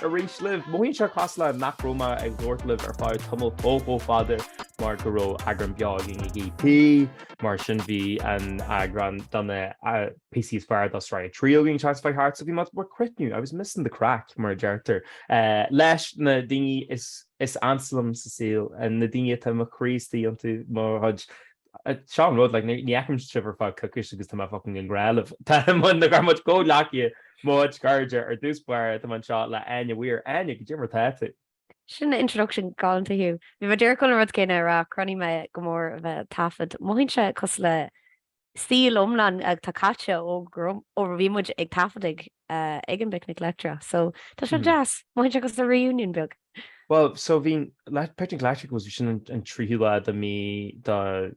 arís libh. Mothaíonn sé cosúil le nach raibh mé ag labhairt libh ar feadh tamall chomh chomh fada mar go raibh eagrán beo againn ag EP, mar sin bhí an eagrán de na píosaí is fearr de sraith a trí againn seans a bheith thart, so bhí mé do bhur gcrothnú, I was missing the craic, mar a deirtear, leis na daoine is ansa liom sa saol, na daoine atá mo chroí istigh iontu, mo chuid seo an rud, like, ní fheicim sibh ar feadh coicís agus tá mé fucking i ngrá libh. Tá muid na gur muid comhghleacaithe, muid cairde ar dtús báire, tá mé anseo le Áine Mhaoir. Áine, cad é mar tá tú. Sin introduction galánta, Hugh. Bhí mé díreach chun an rud céanna a rá, chronaigh mé go mór a bheith ag taifead. Mothaíonn sé cosúil le saol iomlán atá caite ó bhí muid ag taifead ag. ag an bPicnic Leictreach so tá sé deas mothaíonn sé cosúil le reunion beag. Bhuel so bhí an Picnic Leictreach agus bhí sin an tríú lá de mí de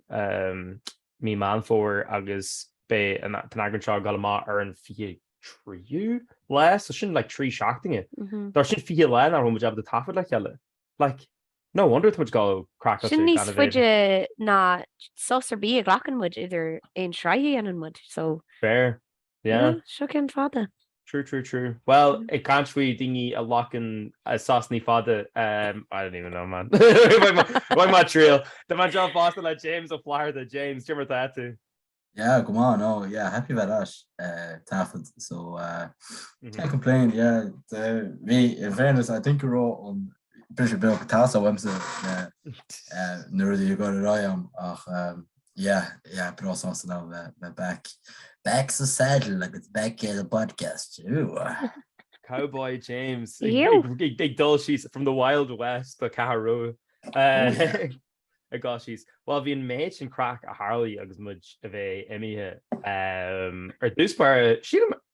mí Meán Fómhair agus beidh an t-eagrán seo ag dul amach ar an fiche a tríú lá so sin like trí seachtaine. Mar sin fiche lá nach raibh muid ábalta taifead le chéile like no wonder tá muid ag dul craiceáilte Sin níos faide ná sos ar bith a ghlacann muid idir aon sraith a dhéanann muid so. Fair. Yeah. Bhuel, seo ceann fada. True, true, true. Bhuel, ag caint faoi daoine a ghlacann sosanna fada, ehm, I don't even know man. Why am I ag triail? Tá mé anseo fosta le James Ó Flatharta. James, cad é mar atá tú? Yeah, go maith, no, yeah, happy a bheith back, eh, taifead, so, eh, can't complain, yeah, de, bhí, in fairness, I think go raibh an briseadh beag ag teastáil uaimse le na rudaí ag dul ar aghaidh ach yeah, yeah, breá sásta liom bheith back, back sa saddle agus back ar an bpodcast. Ooh! Cowboy James ag dul síos from the wild west don Cheathrú Rua ag dul síos. Bhuel, bhí an méid sin craic a tharlaigh agus muid a bheith imithe ar dtús báire, sílim,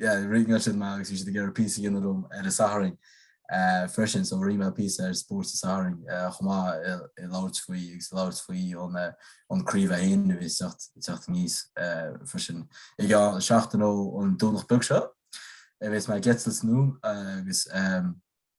Yeah, ringáil siad mé agus bhí siad ag iarraidh píosa a dhéanamh liom ar an Satharn freisin, so rinne mé píosa ar Spórt an tSathairn chomh maith ag labhairt faoi agus ag labhairt faoi an craobh féin a bhí ag teacht aníos freisin. I gceann seachtaine ón Domhnach beag seo a bheas muid ag tosnú agus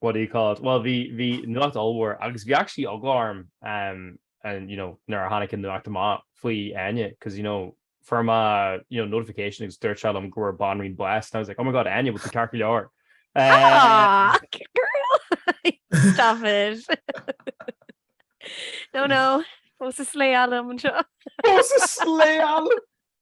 what do you call it? Bhuel bhí, bhí nuacht ollmhór agus bhí actually eagla orm um and you know nuair a tháinig an nuacht amach faoi Áine cause you know fuair mé you know notification agus dúirt sé liom go bhfuair banríon bás and I was like oh my god Áine an bhfuil tú ceart go leor. Ah, um, girl! Stop it. no, no. Fós ag slayáil anseo. Fós is lé alum!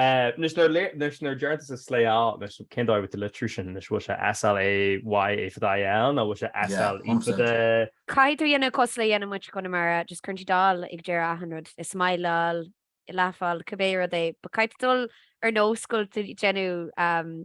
Anois nuair nuair a deireann tusa slayáil anois cén dóigh a bhfuil tú ag litriú sin anois bhfuil sé SL A Y A fada I L nó bhfuil sé SL Yeah, E fada 100%. I? Caithfidh tú a dhéanamh cosúil le a dhéanann muid i gConamara, just cuireann siad áil ag deireadh achan rud, ag smileáil, ag laugháil, cibé rud é, but caithfidh tú dul ar nós go bhfuil tú ag déanamh,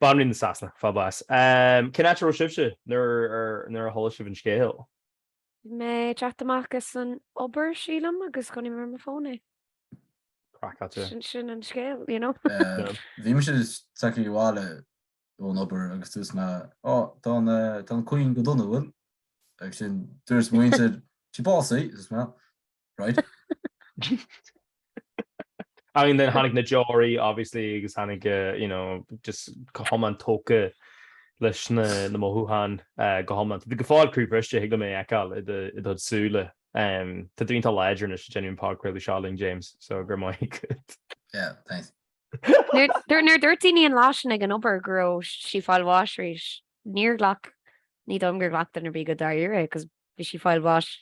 Banríon na Sasana, ag fáil bháis. Cén áit a raibh sibhse nuair a chuala sibh an scéal? Bhí mé ag teacht amach as an obair, sílim, agus chonaic mé ar mo fón é. Craiceáilte. Sin an scéal, you know. Bhí mise ag teacht abhaile ón obair agus dúirt mé, Á, tá an Queen go dona, an bhfuil? Agus ansin dúirt muintir, Bhí sí básaithe, dúirt mé. Ansin then tháinig na deoraí obviously agus tháinig eh, you know, just go hiomlán tógtha leis na, na mothúcháin eh, go hiomlán. Tá tú go fóill croíbhriste thig liom é a fheiceáil i do, i do súile. Em, tá tú iontach láidir anois, ag déanamh an podchraoladh seo linn James, so go raibh maith agat. Yeah, thanks. Nuair nuair- nuair dúirt daoine an lá sin ag an obair go raibh sí fáil bháis arís, níor ghlac, ní dóigh liom gur ghlac duine ar bith go dáiríre, 'cause bhí sí fáil bháis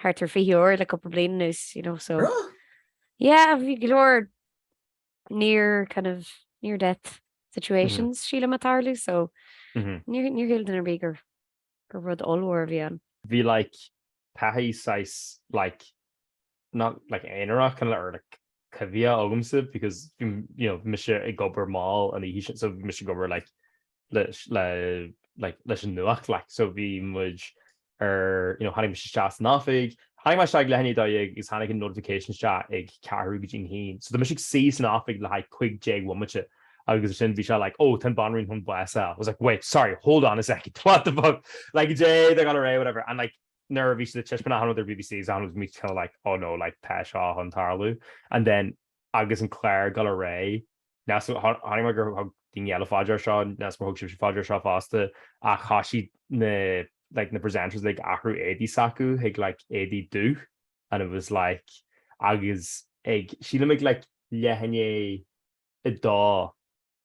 thart ar fiche uair le cúpla bliain anuas you know so Right? yeah bhí go leor near kind of near death situations sílim ag tarlú so níor níor shíl duine ar bith gur gur rud ollmhór a bhí ann. bhí like taithí saghas like not like aonarach kind of or like coimhthíoch agamsa because bhí you know bhí mise ag obair mall an oíche sin so bhí mise ag obair like leis an nuacht. So bhí muid ar, you know, tháinig muid isteach san oifig, tháinig mé isteach ag leath i ndiaidh a dó dhéag agus tháinig an notification isteach ag ceathrú go dtí an haon. So tá mise ag suí san oifig le haghaidh cúig déag bhomaite agus ansin bhí sé like, oh tá an Bhanríon chun bás a fháil. I was like, wait, sorry, hold on a second, what the fuck? Like cad é atá ag gabháil ar aghaidh, whatever. And like nuair a bhí siad ag taispeáint ar an rud ar BBC is ann agus muid kind of like, oh no, like tá seo chun tarlú. And then agus an Clár ag dul ar aghaidh. Chonaic mé gur thug daoine eile faoi deara seo, níl a fhios agam ar thug sibhse faoi deara seo fosta, ach chuaigh siad na like na presenters like ag athrú éadaí s'acu chuig like éadaí dubh and it was like agus ag sílim ag like leath i ndiaidh a dó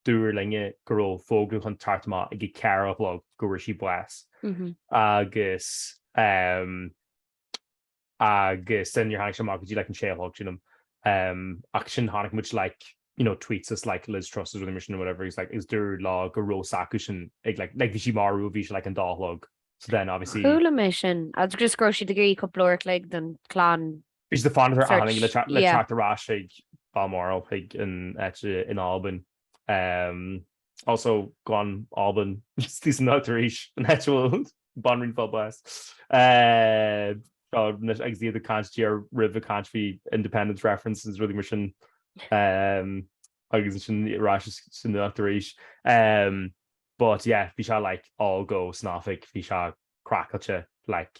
dúradh linne go raibh fógra chun teacht amach ag a ceathair a chlog go raibh sí bás agus ehm agus ansin níor tháinig sé amach go dtí like an sé a chlog sílim um ach ansin chonaic muid like you know tweets as like Liz Truss is rudaí mar sin or whatever agus like is dúradh like go raibh a fhios acu sin ag like like bhí sí marbh ó bhí sé like an dó a chlog so then obviously Chuala mé sin agus just go raibh siad ag iarraidh cúpla uair an chloig don chlann Bhí siad ag fanacht ar search aithin le yeah. teacht ar ais chuig Balmoral chuig an áit in Albain um Also, go on Albain isteach sa nuacht arís an áit a bhfuil an Bhanríon ag fáil bháis. Seo anois agus iad ag caint díreach roimhe ag caint faoi independence referendums agus rudaí mar sin agus ansin ar ais sa nuacht arís. But yeah bhí sé like all go san oifig, bhí sé craiceáilte like.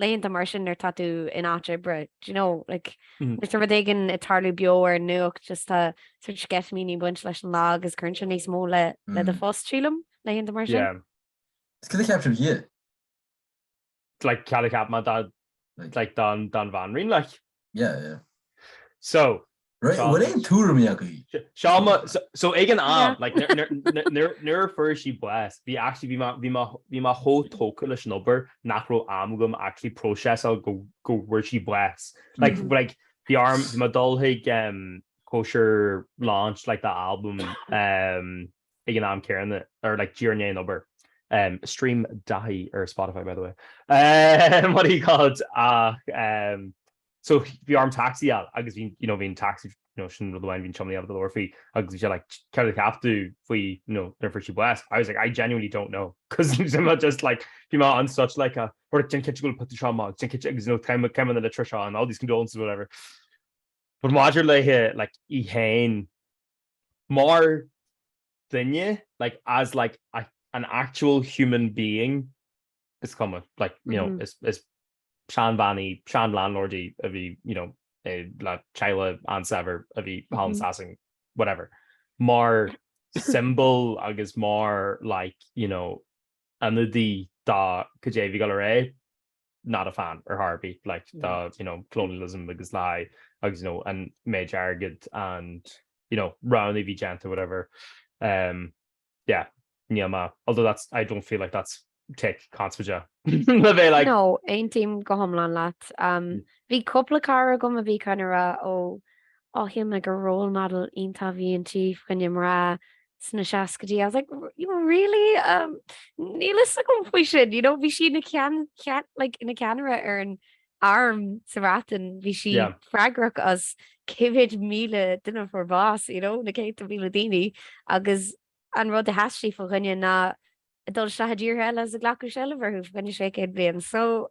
laethanta mar sin nuair atá tú in áit oibre do you know like nuair atá rud éigin ag tarlú beo ar an nuacht just tá sort of sceitimíní ag baint leis an lá agus cuireann sé níos mó le le do phost sílim laethanta mar sin. Yeah. Is cad a cheap sibh di? Like cad a cheap muid de like den bhanríon like? Yeah, yeah. So, Right, an bhfuil aon tuairimí agaibh? Seo mo, so, so ag an am, like, nuair- nuair- nuair- nuair- nuair a fuair sí bás, bhí actually, bhí mé- bhí mé- bhí mé chomh tógtha leis an obair nach raibh am agam actually próiseasáil go, go bhfuair sí bás. Like, Mhm. like, bhí orm, bhí mé ag dul chuig, em, cóisir launch, like, the album, em, ag an am céanna or like díreach i ndiaidh an obair. em stream Daithí ar Spotify by the way em what do you call it ach em so bhí orm tacsaí a fháil agus bhí you know bhí an tacsaí you know sin rud amháin bhí an tiománaí ag labhairt faoi agus bhí sé like céard a cheap tú faoi you know nuair a fuair sí bás I was like I genuinely don't know cos I'm not just like bhí mé in such like a or déan cinnte go put seo amach déan cinnte agus you know caithim caithim na litreacha seo and all these condolences whatever but maidir le like í féin Mar dhuine, like, as like a, an actual human being, is cuma, like, you know, is, is seanbhean í, sean-landlord í a bhí, you know, i, le teaghlach an-saibhir a bhí thall in Sasain, whatever. Mar symbol agus mar, like, you know, ionadaí dá caidé a bhí go léir é, not a fan ar chor ar bith like dá you know colonialism agus like agus you know an méid airgid and you know roghanna a bhí déanta whatever um yeah níl mé although that's I don't feel like that's take conspóideach le bheith like No, aontaím go hiomlán leat. Um, bhí cúpla cara agam a bhí kind of ag rá, oh, oh shíl mé gur role model iontach a bhí inti fá choinne mná, sna seascaidí I was like really? Um níl fhios agam faoi sin you know bhí sí ina ceann ceann like ina ceannaire ar an arm sa Bhreatain bhí sí Yeah. freagrach as cé mhéad míle duine a fuair bás you know na céadta míle daoine agus an rud a sheas sí fá choinne ná dul isteach i dtíortha eile agus ag glacadh seilbh orthu fá choinne sé céad bliain. So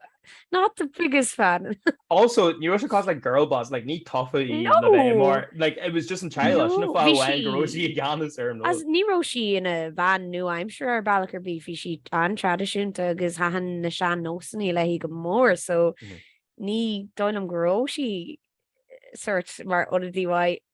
not the biggest fan. Also, ní raibh sí cosúil le girl boss, like, ní tofa í No! le bheith mar, like, it was just an teaghlach, No, sin an fáth bhí amháin go raibh sí sí- i gceannas ar an Agus rud. ní raibh sí ina bean nua-aimseartha ar bealach ar bith, bhí sí an-traidisiúnta agus thaitin na sean-nósanna léi go mór so Mhm. ní dóigh liom go raibh sí sórt mar ionadaí mhaith.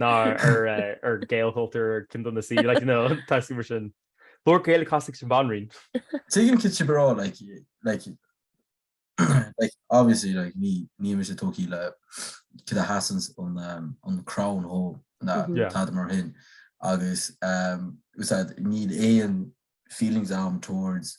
ná ar ar Gaelchultúr ar ceann de na C like you know taisce mar sin. Labhair Gaeilge cosúil leis an Bhanríon. Tuigim céard atá sibh a rá like like like obviously like ní níl mise tógthaí le céard a sheasanns an an crown dhó ná Yeah. tada mar shin agus as I said níl aon feelings a'm towards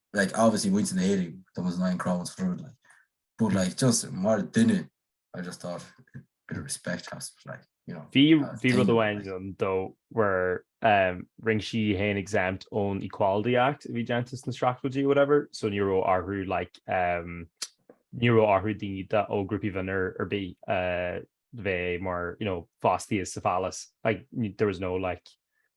like obviously muintir na hÉireann that was nine crowns for it like but like just mar duine I just thought a bit of respect has to be like you know Bhí uh, bhí rud amháin like. ann though where um, rinne sí í féin exempt ón Equality Act a bhí déanta sna seachtóidí whatever so ní raibh orthu like um, ní raibh orthu daoine de ó grúpaí bhinn ar, ar bith a bheith mar you know fostaithe sa phálás like there was no like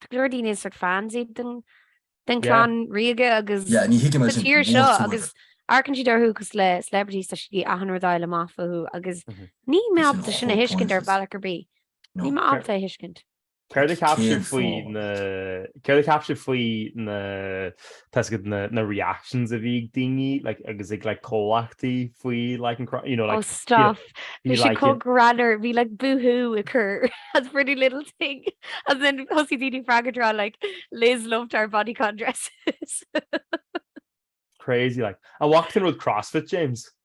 Go leor daoine is sort fans iad den den clann ríoga agus Yeah, ní thuigim sa tír seo agus amharcann siad orthu cosúil le celebrities tá siad ag achan rud a fháil amach fúthu agus níl mé ábalta sin a thuiscint ar bhealach ar bith. Níl mé ábalta a thuiscint. Céard a cheap sibh faoi na. Tá a fhios agat na reactions a bhí ag daoine like agus ag like comhlachtaí faoi like an crá- you know like Oh stop! Bhí siad like chomh greannmhar, bhí like Boohoo agus Pretty Little Thing and then thosaigh daoine ag freagairt ag rá like Liz loved our bodycon dresses. crazy like. An bhfaca tú an rud CrossFit James?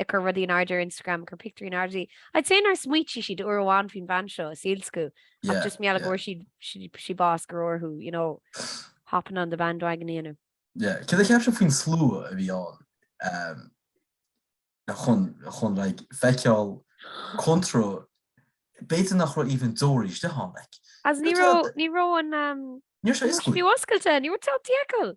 ag cur rudaí in airde ar Instagram, ag cur pictiúirí in airde. I'd say nár smaoitigh siad uair amháin faoin bhean seo i saol s'acu ach just mar gheall go bhfuair siad sí bás go raibh orthu, you know, hopping on the bandwagon a dhéanamh. Yeah. Cad a cheap sibh faoin slua a bhí ann chun chun like feiceáil cónra b'fhéidir nach raibh even deoir isteach ann like. As ní raibh ní raibh an um, Ní raibh sé oscailte. ní raibh sé oscailte, ní raibh tú ábalta feiceáil.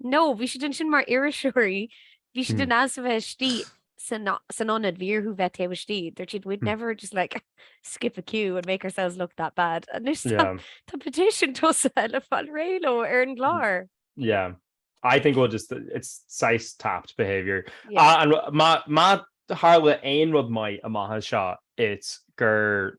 No, bhí siad ansin mar iriseoirí, bhí siad in ainm is a bheith istigh san ionad, bhí orthu bheith taobh istigh. Dúirt siad we'd never just like skip a queue and make ourselves look that bad. Anois tá petition tosaithe le fáil réidh leo ar an gclár. Yeah, I think we'll just, it's saghas tapped behaviour. Má tharla aon rud maith amach as seo it's gur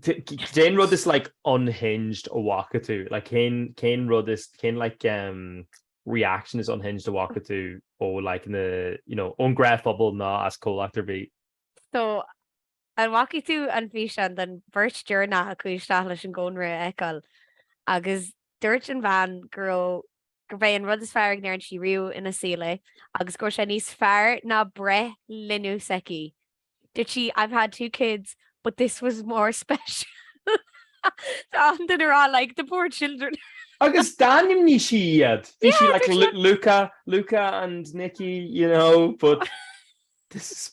Cén rud is like unhinged a bhaca tú? Like, cén, cén rud is, cén like, um, reaction is unhinged a bhfaca tú ó like, na, you know, ón gnáthphobal nó as comhlacht ar bith? So, an bhfaca tú an físeán den bheirt deireanach a chuaigh isteach leis an gcónra a fheiceáil agus Dúirt an bhean go raibh gurb é an rud is fearr a ndearna sí riamh ina saol é agus go raibh sé níos fearr ná breith linbh s'aici. Dúirt sí, I've had two kids but this was more special. Tá daoine ag rá like the poor children. Agus d'ainmnigh sí iad. Bhí sí like yeah, like, Luca, Luca and Nikki, you know, but this is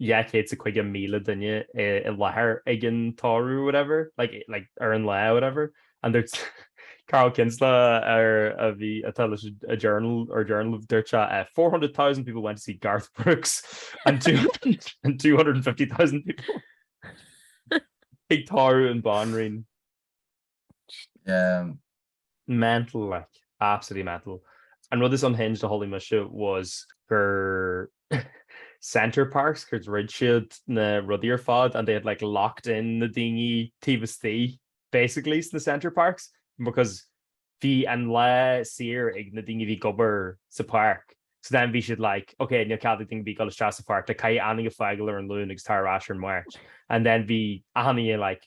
250,000 duine i láthair ag an tórramh whatever like like ar an lá whatever and there's Carl Kinsella ar a bhí atá leis an Journal or Journal a dúirt uh, eh, 400,000 people went to see Garth Brooks and, two, and 250,000 people ag tórramh an banríon Yeah. Mental like, absolutely mental. An rud is unhinged a chuala mise was gur Center Parcs gur dhruid siad na rudaí ar fad and they had like locked in na daoine taobh istigh basically sna Center Parcs because bhí an lá saor ag na daoine a bhí ag obair sa pháirc. So then bhí siad like, okay, níl cead ag daoine a bhí ag dul isteach sa pháirc, like caithfidh achan duine fágáil ar an Luan agus tar ar ais ar an Mháirt. And then bhí achan duine like,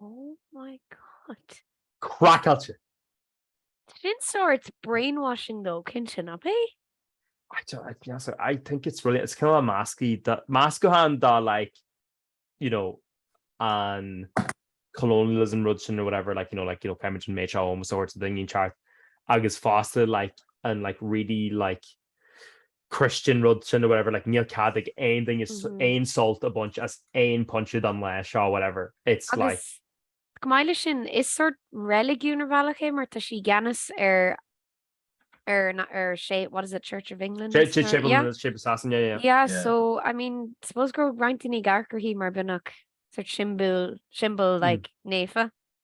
Oh my God. Craiceáilte! Sin sórt brainwashing though cinnte, nach b'é? I think it's really, it's kind of a mascaí, meascán de like, you know, an colonialism rud sin or whatever, like, you know, like, you know, creideann siad an méid seo ómós a thabhairt, don duine cheart, agus fosta like an like really like Christian rud sin nó whatever like níl cead ag aon duine aon sult a bhaint as aon pointe den lá seo whatever it's like. Agus chomh maith leis sin is sort reiligiún ar bhealach é mar tá sí i gceannas ar ar na ar sé what is it Church of England Séipéal Shasana yeah yeah so I mean suppose go raibh roinnt daoine ag amharc uirthi mar beagnach sort siombail symbol like naofa.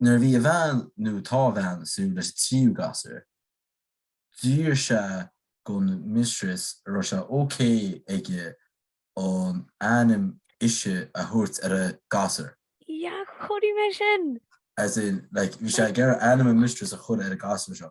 Nuair a bhí a bhean nó tá a bhean ag súil leis a tríú gasúr, d'fhiafraigh sé gon mistress an raibh sé ok aige an ainm ise a thabhairt ar an ngasúr. Yah chonaic mé sin! As in, like, bhí sé ag iarraidh ainm a mistress a chur ar an ngasúr seo.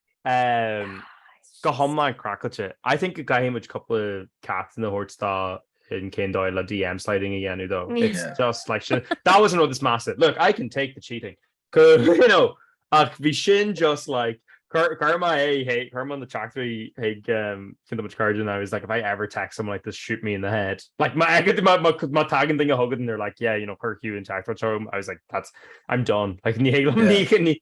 Go hiomlán craiceáilte. I think go gcaithfidh muid cúpla ceacht a thabhairt dó in cén dóigh le DM sliding a dhéanamh though. It's just like sin. That was an rud is measa. Look, I can take the cheating. You know, ach bhí sin just like, chuir, chuir mé é hé, chuir mé na teachtaireachtaí chuig cuid de mo chairde and I was like, if I ever text someone like this, shoot me in the head. Like má fheiceann tú, má, má, má tagann duine chugainn and they're like, yeah, you know, chuir Hugh an teachtaireacht seo orm, I was like, that's, I'm done. Like ní thig liom, ní, ní,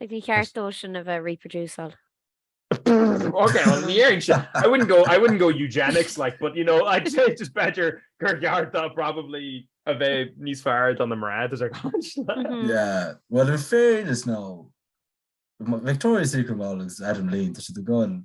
Like ní cheart dósan a bheith reproduceable. Ok bhuel ní éirigh sin. I wouldn't go I wouldn't go eugenics like but you know I'd say just b'fheidir gur cheart dó probably a bheith níos fearr do na mná does that catch that? Yeah bhuel in fairness now Victoria's Secret model agus Adam Levine tá siad i gcoin.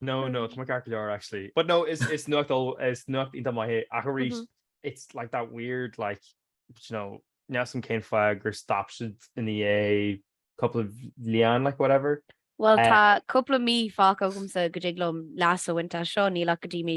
No no tá ceart go leor actually but no is is nuacht is nuacht iontach maith é arís mm-hmm. it's like that weird like you know níl a fhios agam cén fáth gur stop siad ag ithe é cúpla bliain like whatever Well eh, tá cúpla mí fágtha agamsa go dtig liom blas a winter seo ní le go dtí mí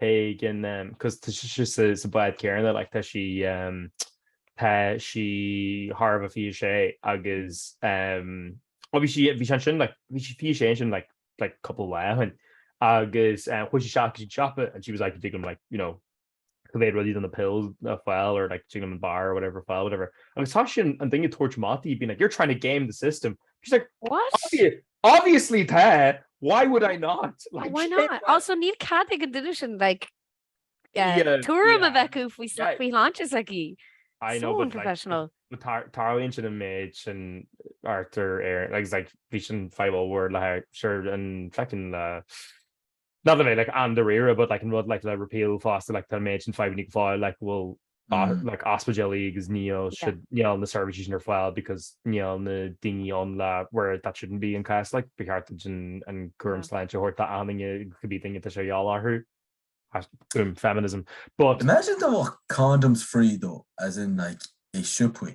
Pagan cos tá sí sa bád céanna like tá sí tá sí thar a bheith fiche sé agus obviously bhí sí ansin like bhí sí fiche sé ansin like like cúpla lá ó shoin agus chuaidh sí isteach go dtí an siopa and she was like an dtig liom like you know cibé rudaí do na pills a fháil or like an dtig liom an bar or whatever fáil whatever agus toisíonn an duine ag tabhairt amach di being like you're trying to game the system she's like what? Obviously tá! Why would I not? Oh why not? Also níl cead ag an duine sin like tuairim a bheith acu faoin tsláinte s'aici. I know but like so unprofessional. But tarlaíonn sin an méid sin thart ar Éirinn like it's like bhí sin fadhb ollmhór le sure an feckin le. Not to be like an-dáiríre but like an rud like le repeal fosta like tá an méid sin fadhbanna go fóill like bhuel mm like ospidéalaí agus níl yeah siad níl na services sin ar fáil because níl na daoine ann le where that shouldn't be an cás like ba cheart duit an an cúram yeah sláinte a thabhairt d'achan duine cibé duine atá sé a dhíobháil orthu as boom feminism but Imagine dá mbeadh condoms free though as in like i siopaí.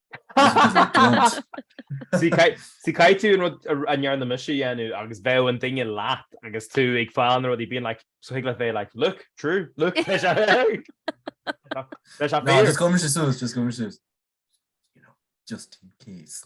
Sea, caithfidh tú an rud a ndearna mise a dhéanamh agus bheadh an duine leat agus tú ag fáil na rudaí bíonn like so thig leat bheith like look, true, look leis an bhfear. Ná just cuir mise suas, just cuir mise suas. You know, just in case.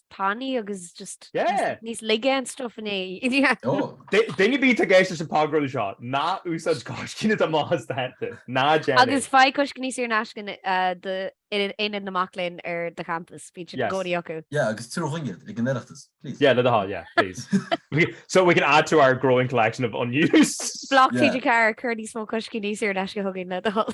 tanaí agus just níos laige an stuff inné. Duine ar bith atá ag éisteacht leis an podchraoladh seo, ná húsáid coiscíní dá mbás do thaitin. Ná déan é. Agus faigh coiscíní saor in aisce in Ionad na Mac Léinn ar do champas. Bíonn siad i gcónaí acu. Yeah, agus tabhair dúinn iad ag an Oireachtas, please. Yeah, le do thoil, yeah, please. So we can add to our growing collection of unused. Bloc TG4, cuir níos mó coiscíní saor in aisce chugainn, le do thoil.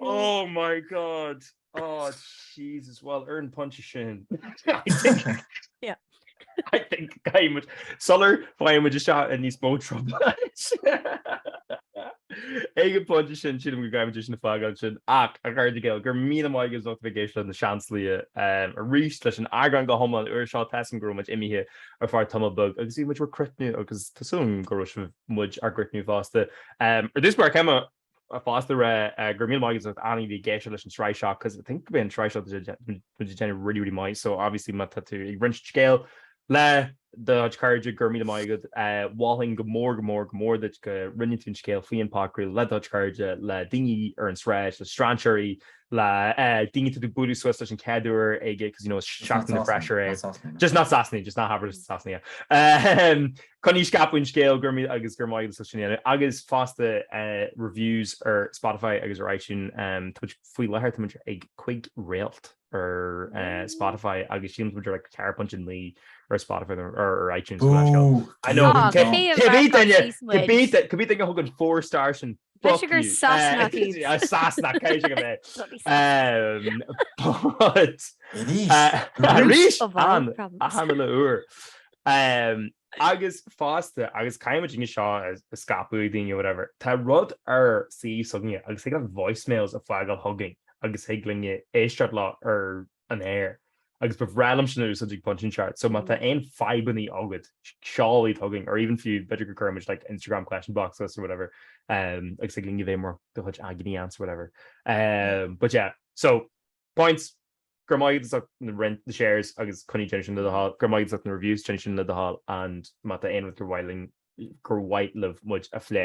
Oh my God! Oh Jesus! Well, ar an phointe sin, I think caithfimid sular bhfaigheann muid isteach i níos mó trioblóid, ag an phointe sin, sílim go gcaithfimid sin a fhágáil ansin. Ach, a chairde Gael, go raibh míle maith agat as ucht a bheith ag éisteacht le na Seansálaithe arís leis an eagrán go hiomlán úr seo. Tá a fhios agam go raibh muid imithe ar feadh tamall beag agus bhí muid bhur gcrothnú agus tá súil agam go raibh sibh muid á gcrothnú fosta. Ar dtús ba cheart dom fosta rá go raibh míle maith agat as ucht achan duine a bhí ag éisteacht leis an sraith seo cos I think go mbeidh an sraith seo muid ag déanamh really really maith so obviously má tá tú ag roinnt scéal le do chuid cairde go raibh míle maith agat. Mholfainn go mór go mór go mór duit go roinneann tú an scéal faoi an podchraoladh le do chuid cairde, le daoine ar an tsráid, le strainséirí, le daoine tú ag bualadh suas leis an chéad uair ag 'cause you know is Seachtain na bhFreshers é. Just not Sasanaigh, just ná habair Sasanaigh. Coinnigí ag scaipeadh an scéal go raibh maith agus go raibh maith agat as sin a dhéanamh. Agus fosta reviews ar Spotify agus ar iTunes, tá muid faoi láthair tá muid ag cúig réalt ar Spotify agus sílim tá muid ar like 4.9 ar Spotify nó ar iTunes nó mar sin. I know, cibé duine cibé duine a thug an four star sin Fuck you. Sasanach iad. Sasanach, cé acu agaibh é. But... Arís! An chéad uair. Agus fosta, agus caithfidh muid seo a scaipeadh ar daoine nó whatever, tá rud ar suíomh s'againne agus thig libh voicemails a fhágáil chugainn agus thig linne éisteacht leo ar an aer agus ba bhreá liom sin a úsáid ag pointe inteacht. So má tá aon fadhbannaí agat seol iad chugainn or even fiú b'fhéidir go gcuirfidh muid like Instagram question box or whatever um agus ag linn go bhféadhmar do chuid agini answer whatever um but yeah so points Go raibh maith agat as ucht an roinnt na shares agus coinnígí ag déanamh sin le do thoil. Go raibh maith agat as ucht na reviews déanaigí sin le do thoil and má tá aon rud gur mhaith linn gur mhaith libh muid a phlé